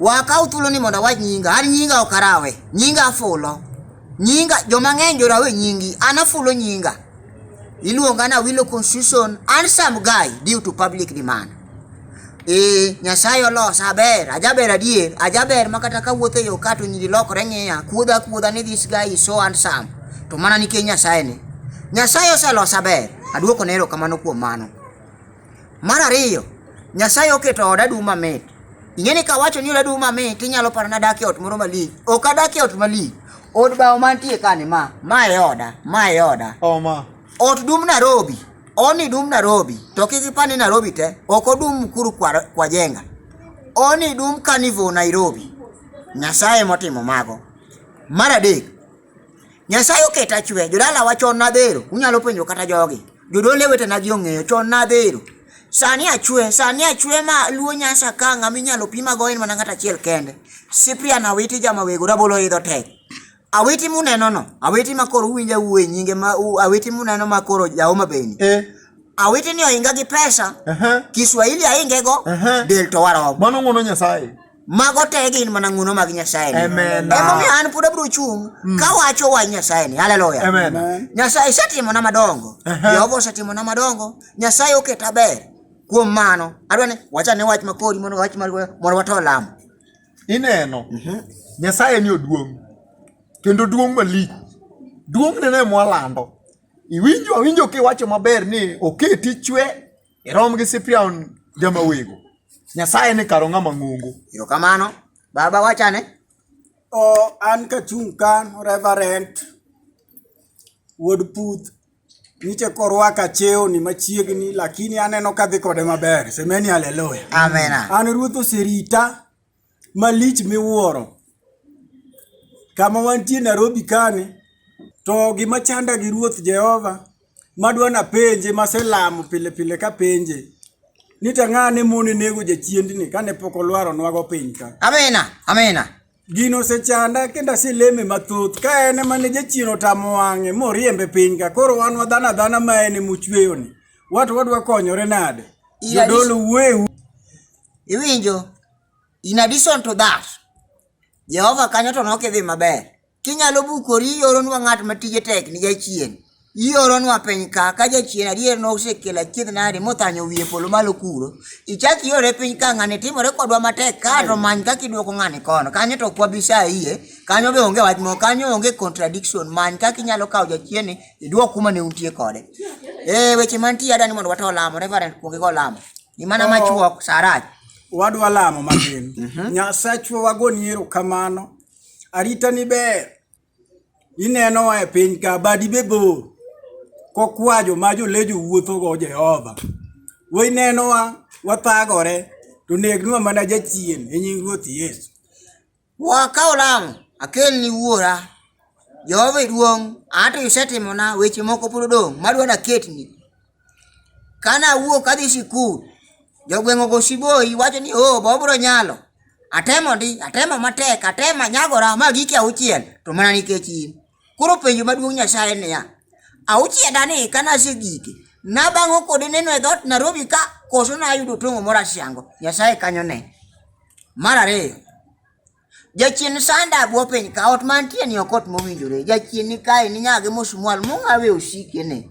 Wakaw thuolo ni mondo awach nyinga, an nyinga ok arawe, nyinga afulo. Nyinga joma ng'eny jorawe nyingi, an afulo nyinga. Iluonga na Wilo Constitution, an some guy due to public demand. Ee, Nyasaye olosa aber, ajaber adier, ajaber ma kata kawuotho e yo ka to nyiri lokore ng'iya, kuodha kuodha ni this guy is so handsome. To mana nikech Nyasaye ni. Nyasaye oselosa aber, aduoko ne erokamano kuom mano. Mar ariyo, Nyasaye oketo oda dum mamit. Ing'e ni kawacho ni oda dum mamit, inyalo paro ni adak e ot moro malich. Ok adak e ot malich. Od bao mantie kani ma, ma e oda, ma e oda. Oma. Ot dum Nairobi, oni dum Nairobi, to kik ipani Nairobi te, ok odum Mkuru kwa, kwa jenga. Oni dum Carnival Nairobi. Nyasaye motimo mago. Mar adek, Nyasaye oketa achwe, jodalawa chon nadhero, unyalo penjo kata jogi. Jodole wetena gi ong'eyo, chon nadhero. Sani achwe, sani achwe ma luo nyasa ka ng'ama inyalo pima go en mana ng'at achiel kende. Cyprian Awiti jama wego rabolo idho tek. Awiti muneno no, awiti ma koro uwinjo awuo e nyinge ma u- awiti muneno ma koro jaoma beni. Eh, Awiti ni ohinga gi pesa, aha. Kiswahili ahingego, Aha. del to waromo. Mano ng'wono Nyasaye. mago te gin mana ng'uno mag nyasaye emomiyo an pod abiro chung' mm. ka wacho wach nyasaye ni haleluya nyasaye isetimona madongo jehova osetimona madongo nyasaye oketa ber kuom mano adwa ni wacha ne wach makori mondo wach mondo wato lamo ineno mhm. nyasaye ni oduong' kendo duong' malich duong' nene mwalando iwinjo awinjo kiwacho maber ni oketi chwe Irom gi Siprion jama wego. Nyasaye ni karo ng'ama ng'ongo. Erokamano. Baba wachane. O an kachung' ka Reverend Wuod Puth nitie korwaka chewni machiegni lakini aneno kadhi kode maber semeni haleluya Amena. an ruoth oserita malich miwuoro. Kama wantie Narobi kani, to gima chanda gi Ruoth Jehova madwa napenje maselamo pile pile kapenje ni to ang'a ne mon e nego jachiendni kane pok olwaronwago piny ka. Amina, amina. Gino osechanda kendo aseleme mathoth ka en ema ne jachien otamo wang'e moriembe piny ka koro wan wadhano adhana ma en ema ochweyoni. Wat wadwa konyore nade? Ira- Jodolo wuoye Iwinjo? In addition to that, Jehova kanyo to nokidhi maber. Kinyalo bukori ioronwa ng'at ma tije tek ni jachien. Ioronwa piny ka ka jachien adier nosekelo achiedh nadi mothanyo wiye polo malo kuro. Ichak iore piny ka ng'ani timore kodwa matek ka to many kaka iduoko ng'ani kono. Kanyo to kwa bisa iye. Kanyo be onge wach moko. Kanyo onge contradiction. Many kaka inyalo kawo jachien ni iduok kuma ne untie kode. Eh weche mantie adani mondo wata olamo. Reverend kuonge go olamo. Ni mana oh. machuok sarach. Wadwa lamo matin. Mhm. Nyasachwa wagoni erokamano. Arita ni ber. Ineno e piny ka badi be bor. Kokwajo ma jolejo wuotho go Jehova. Wainenowa wathagore to negnwa mana jachien e nying Ruoth Yesu. Wa kaw lamo, akelni wuora. Jehova iduong', an to isetimona weche moko pod odong' madwa naketni. Kane awuok adhi sikul, jogweng' ogo siboyi wacho ni oh be obiro nyalo. Atemo ndi, atemo matek, atemo anyagora ma gike auchiel to mana nikech in. Koro penjo maduong' Nyasaye niya, auchieda ni kane asegike, nabang'o kode neno e dhoot Nairobi ka koso nayudo tong'o moro asiango, Nyasaye kanyo ne. Mar ariyo, jachien sanda abwo piny ka ot mantie ni ok ot mowinjore, jachien ni kae ni nyage mosumwal mong'awe osike ne.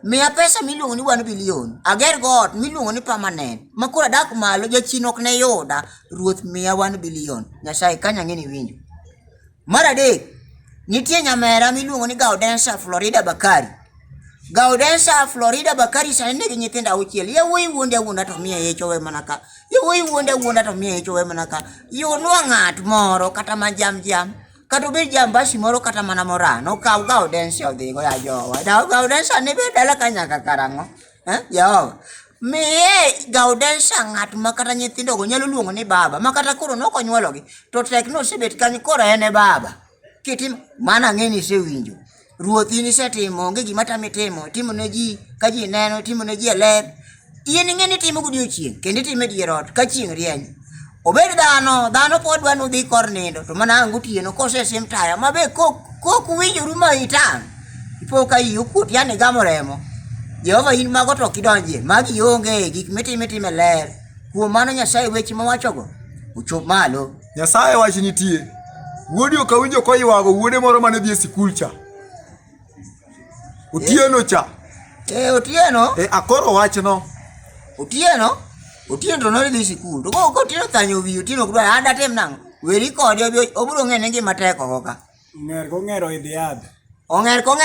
Miya pesa miluongo ni wan bilion, ager go ot miluongo ni permanent, ma koro adak malo jachien ok ne yuda, ruoth miya wan bilion, Nyasaye kanyo ang'e ni iwinjo. Mar adek, nitie nyamera miluongo ni Gaudensa Florida Bakari. Gaudensa Florida Bakari sani nigi nyithindo auchiel. Yawuoyi wuonde awuonda to miye ich owe mana ka. Yawuoyi wuonde awuonda to miye ich owe mana ka. Yunwa ng'at moro kata ma jam jam. Kata obed jambasi moro kata mana morano. Okaw Gaudensa odhigo ya jowa. Gaudensa ne be dala ka nyaka karang'o. Eh, Jehova. Miye Gaudensia ng'at ma kata nyithindogo nyalo luongo ni baba, ma kata koro nok onyuologi, to tek ni osebet kanyo koro en e baba. Kitim mana ng'e ni isewinjo. Ruoth in isetimo, onge gima tami timo, timo ne ji ka ji neno, timo ne ji e ler. In ing'e ni itimo godiechieng' kendo itimo e dier ot ka chieng' rieny. obed dhano dhano pod dwa nudhi kor nindo to mana ang' otieno kosesim taya ma be kok winjoru ma itang' ipo ka iyi okuot yani igamo remo jehova in mago to ok idonjie magi ionge gik mitim itime ler kuom mano nyasaye weche mawachogo ochop malo nyasaye wach nitie wuodi okawinjo koywago wuode moro mane dhi e sikul cha Otieno cha. Eh, Otieno? Eh, akoro wachno. Otieno? Otieno to nodhi sikul. To ko Otieno thanyo wi Otieno kudwa ah, ada tem nang. Weri kode obiro ng'e ne ngima tek oko ka. Ng'er kong'ero idhi yadh. Ong'er kong'ero